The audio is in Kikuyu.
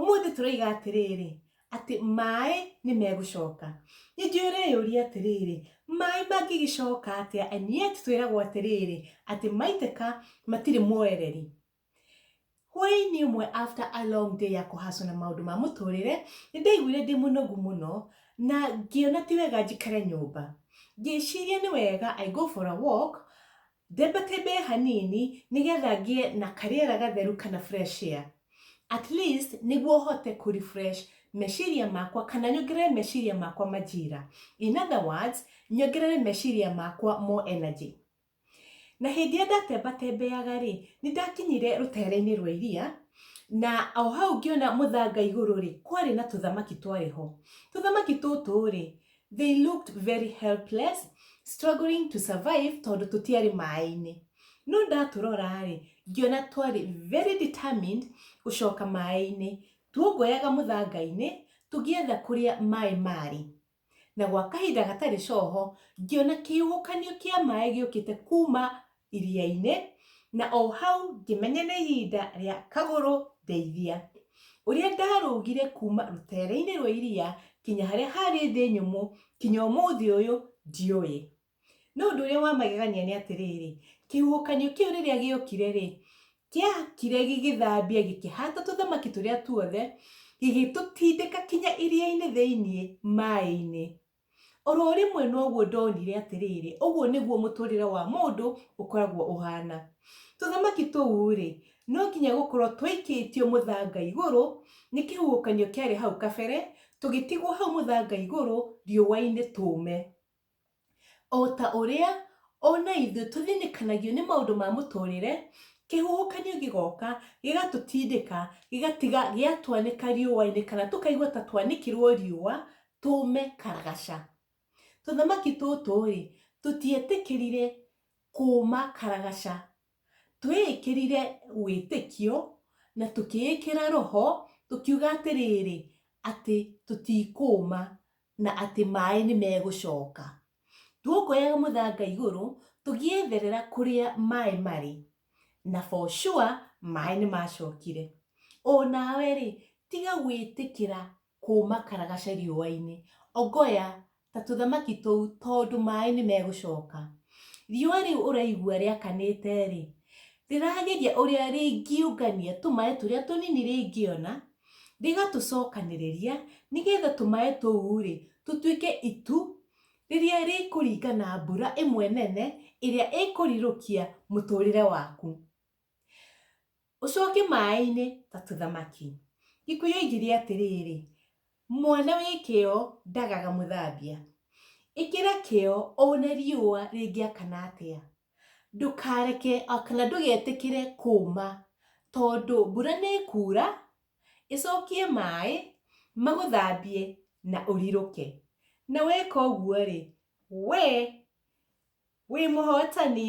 Ũmũthĩ tũroiga atĩrĩrĩ, atĩ maĩ nĩ megũcoka. Nĩ njũĩ ũreyũria atĩrĩrĩ, maĩ mangĩgĩcoka atĩa? And yet twĩragwo atĩrĩrĩ, atĩ maitĩka matirĩ mwoereri. Hwaĩ-inĩ ũmwe after a long day ya kũhacwo na maũndũ ma mũtũrĩre, nĩ ndaiguire ndĩ mũnogu mũno na ngĩona ti wega njikare nyũmba. Ngĩciria nĩ wega I go for a walk Themba tembee hanini nĩ getha ngĩe na karĩera gatheru kana fresh air. At least nĩguo hote kũ refresh meciria makwa kana nyongerere meciria makwa majira. In other words, nyongerere meciria makwa more energy. Na hĩndĩ ĩrĩa ndatemba tembeaga rĩ, nĩ ndakinyire rũteere-inĩ rwa iria, na o hau ngĩona mũthanga igũrũ rĩ, kwarĩ na tũthamaki twarĩ ho. Tũthamaki tũtũ rĩ, They looked very helpless, struggling to survive tondũ tũtiarĩ maĩ-inĩ. No ndatũrora-rĩ, ngĩona twarĩ very determined gũcoka maĩ-inĩ. Tuongoyaga mũthanga-inĩ tũgĩetha kũrĩa maĩ marĩ. Na gwa kahinda gatarĩ coho, ngĩona kĩhuhũkanio kĩa maĩ gĩũkĩte kuma iria-inĩ, na o hau ngĩmenya nĩ ihinda rĩa kagũrũ ndeithia. Ũrĩa ndarũgire kuma rũtere-inĩ rwa iria kinya harĩa harĩ thĩ nyũmũ kinya ũmũthĩ ũyũ ndiũĩ. No ũndũ ũrĩa wa magegania nĩ atĩrĩrĩ, kĩhuhũkanio kĩu rĩrĩa gĩokire rĩ, kĩokire gĩgĩthambia gĩkĩhata tũthamaki tũrĩa tuothe, gĩgĩtũtindĩka kinya iria-inĩ thĩiniĩ maĩ-inĩ. Oro rĩmwe noguo ndonire atĩrĩrĩ, ũguo nĩguo mũtũrĩre wa mũndũ ũkoragwo ũhana. Tũthamaki tũu-rĩ, no nginya gũkorwo twaikĩtio mũthanga igũrũ nĩ kĩhuhũkanio kĩarĩ hau kabere, tũgĩtigwo hau mũthanga igũrũ riũa-inĩ tũũme. Ota ũrĩa ona ithuĩ tũthĩnĩkanagio nĩ maũndũ ma mũtũrĩre, kĩhuhũkanio gĩgoka gĩgatũtindĩka gĩgatiga gĩatwanĩka riũa-inĩ kana tũkaigua ta twanĩkĩrwo riũa tũũme karagaca. Tũthamaki tũtũ-rĩ, tũtietĩkĩrire kũũma karagaca. Tweĩkĩrire wĩtĩkio na tũkĩĩkĩra roho, tũkiuga atĩrĩrĩ, atĩ tũtikũũma na atĩ maĩ nĩ megũcoka. Tuokuoyaga mũthanga igũrũ, tũgĩetherera kũrĩa maĩ marĩ, na for sure maĩ nĩ macokire. O nawe-rĩ, tiga gwĩtĩkĩra kuuma karagaca riũa-inĩ. Ongoya ta tũthamaki tũu tondũ maĩ nĩ megũcoka. Riũa rĩu ũraigua rĩakanĩte-rĩ, rĩrageria ũrĩa rĩngĩũngania tũmaĩ tũrĩa tũnini rĩngĩona, rĩgatũcokanĩrĩria nĩgetha tũmaĩ tũu-rĩ, tũtuĩke itu rĩrĩa rĩkũringa na mbura ĩmwe nene ĩrĩa ĩkũrirũkia mũtũrĩre waku. Ũcoke maaĩ-inĩ ta tũthamaki. Gĩkuyu yoigire atĩrĩrĩ, Mwana wĩ kĩyo ndagaga mũthambia. Ĩkĩra kĩyo one riũa rĩngĩakana atĩa. Ndũkareke kana ndũgetĩkĩre kũũma tondũ mbura nĩ ĩkuura, ĩcokie maaĩ magũthambie na ũrirũke. Na weka ũguo-rĩ, wee wĩ mũhotani.